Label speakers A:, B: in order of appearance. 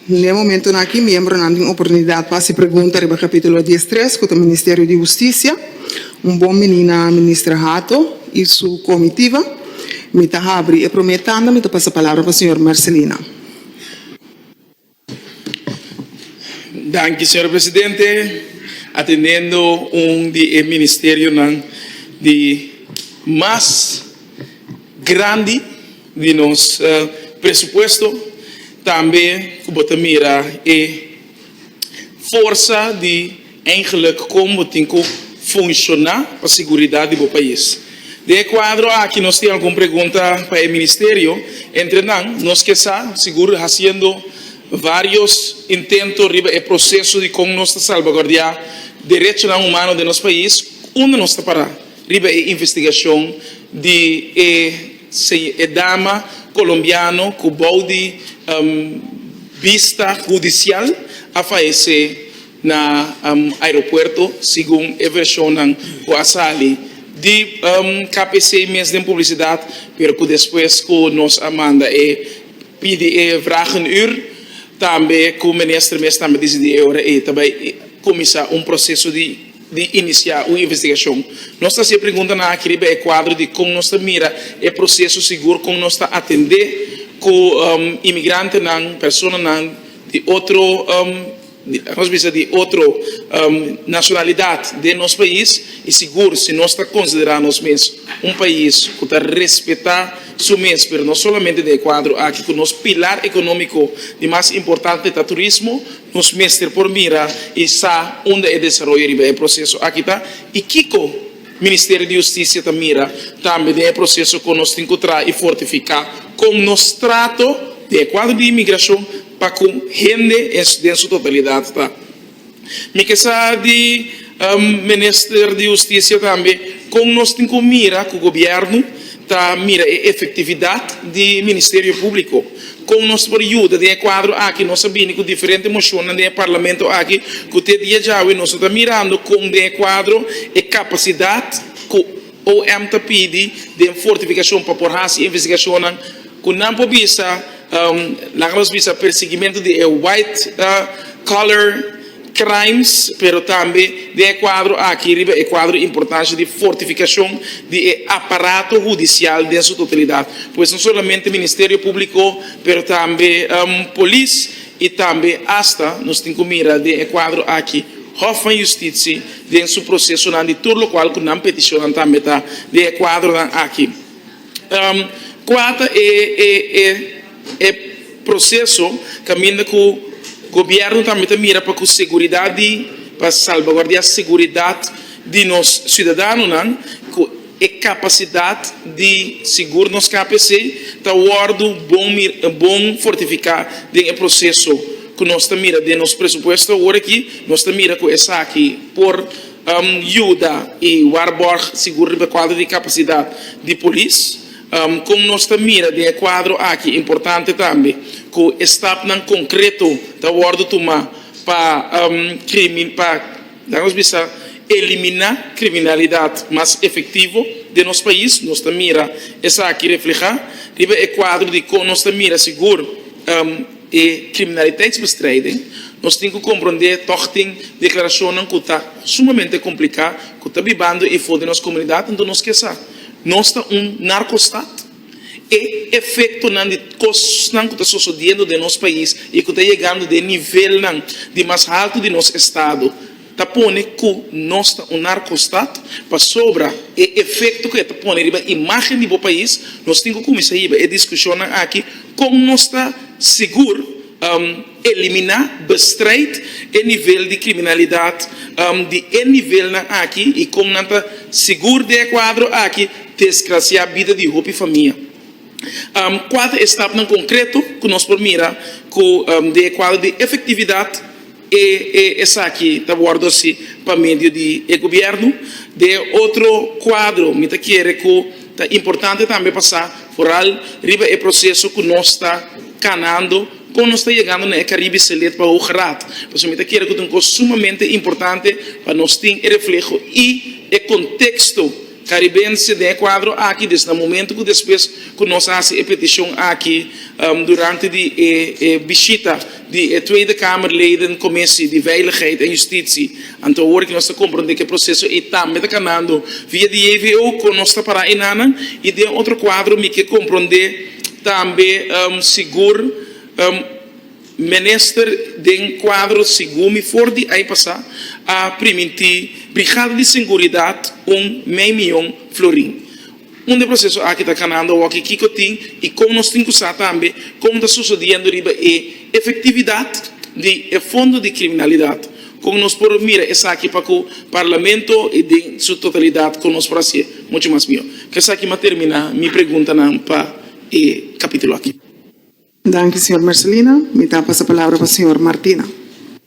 A: N'e momentonan aki miembronan tin oportunidat pa hasi pregunta riba Capítulo dies tres, cu ta Ministerio di Husticia. Un bon minina Minister Hato y su comitiva. Mi ta habri e prome tanda, mi ta pasa palabra pa Señor Marcelino. Danki Señor Presidente. Atendiendo un di e ministerionan di mas grandi. di nos presupuesto, tambe cu bo ta mira e forsa di eigenlijk con bo tin cu funciona pa siguridad di bo pais. Den e cuadro aki nos tin algun pregunta pa e Ministerio, entre nan, nos ke sa, sigur haciendo varios intento riba e proceso di con nos ta salvaguardia derechonan humano den nos pais, unda nos ta para? Riba e investigashon di e e dama colombiano cu bou di bista hudicial a fayece na aeropuerto, segun e versionnan cu a sali di KPC mes den publicidad, pero cu despues cu nos a manda e pidi e vragenuur tambe cu minister mes tambe dici di e ora ey ta bay cuminsa un proceso di. di inisiá un investigashon. Nos ta hasi e preguntanan aki riba e kuadro di kon nos ta mira e proseso sigur kon nos ta atendé ku imigrantenan, personanan di otro, nos bisa di otro nashonalidat den nos pais i sigur si nos ta konsiderá nos mes un pais ku ta respetá su mes. Pero no solamente den e kuadro aki ku nos pilar ekonómiko di mas importante ta turismo. Nos mester por mira i sa unda e desaroyo riba e proseso aki ta i kiko Ministerio di Hustisia ta mira tambe den e proseso ku nos tin ku traha i fortifiká kon nos trato den e kuadro di inmigrashon pa ku hende den su totalidat ta mikesá di Minister di Husticia tambe con nos tin cu mira cu Gobierno ta mira e efectividad di Ministerio Publico. Con nos ta por yuda den e cuadro aki? Nos a bini cu diferente mocionnan den e Parlamento aki cu te dia djawe nos no ta mirando con den e cuadro e capacidad cu. OM ta pidi den fortificacion pa por haci investigacionnan cu nan por bisa, laga nos bisa, persigimento di e white collar crimes, pero tambe den e cuadro aki riba e cuadro importancia di fortificacion di e aparato hudicial den su totalidad, pues no solamente Ministerio Publico pero tambe Polis y tambe hasta nos tin cu mira den e cuadro aki Hof van Justitie. den su procesonan di tur locual cu nan peticionnan tambe ta den e cuadronan aki. Cua ta e proceso caminda cu Gobierno tambe ta mira pa cu seguridad di pa salvaguardia seguridad di nos ciudadanonan cu. E kapasidat di sigur nos KPC ta wòrdu bon fortifiká den e proseso ku nos ta mira den nos presupuesto awor aki. Nos ta mira ku esaki por yuda i warbòrg sigur riba e kuadro di kapasidat di polis. Kon nos ta mira den e kuadro aki importante tambe ku e stapnan konkreto ta wòrdu tumá pa. Na nos bisa eliminá kriminalidat mas efektivo den nos pais, nos ta mira esaki reflehá riba e kuadro di kon nos ta mira sigur e kriminaliteitsbestrijding. Nos tin ku komprondé tòg tin deklarashonnan ku ta sumamente kompliká ku ta bibando efo den nos komunidat, anto nos ke sa nos ta un narkostat? E efektonan di kosnan ku ta sosodiendo den nos pais i ku ta yegando den nivelnan di mas haltu di nos estado ta pone ku nos ta un narkostat. Pasobra e efekto ku e ta pone riba imágen di bo pais, nos tin ku kuminsá hiba e diskushonnan aki, Kon nos ta sigur? Eliminá bestrijd e nivel di kriminalidat di e nivelnan aki i kon nan ta sigur di e kuadro aki desgrasiá bida di hopi famia. Kua ta e stapnan konkreto ku nos por mira ku den e kuadro di efektividat e esaki ta wòrdu hasi pa medio di e gobièrnu? Den e otro kuadro mi ta kere ku ta importante tambe pasá foral riba e proseso ku nos ta kanando. Kon nos ta yegando na e Caribe Selet pa Hoog Raad? Pasobra mi ta kere ku ta un kos sumamente importante pa nos tin e refleho i e konteksto karibense den e kuadro aki desde na momento ku despues ku nos a hasi e petishon aki durante di e bishita di e Tweede Kamerleden Commissie di Veiligheid en Justitie. Anto awor ke nos ta komprondé ku e proseso ei tambe ta kanando via di JVO kon nos ta pará enanan i den otro kuadro mi ke komprondé Tambe sigur minister den cuadro segun mi for di ai pasa a primintí brigada di singuridad un mei miyon florin. Un di e proceso aki ta canando awor kico tin y con nos tin cu sa tambe con ta sosodiendo riba e efectividad di e fondo di criminalidad. Kon nos por mira esaki pa ku Parlamento i den su totalidat kon nos por hasié muchu mas mihó? Ku esaki mi a terminá mi preguntanan pa e kapítulo aki. Danki, señor Mercelina. Mi ta pasa palabra pa señor Martina.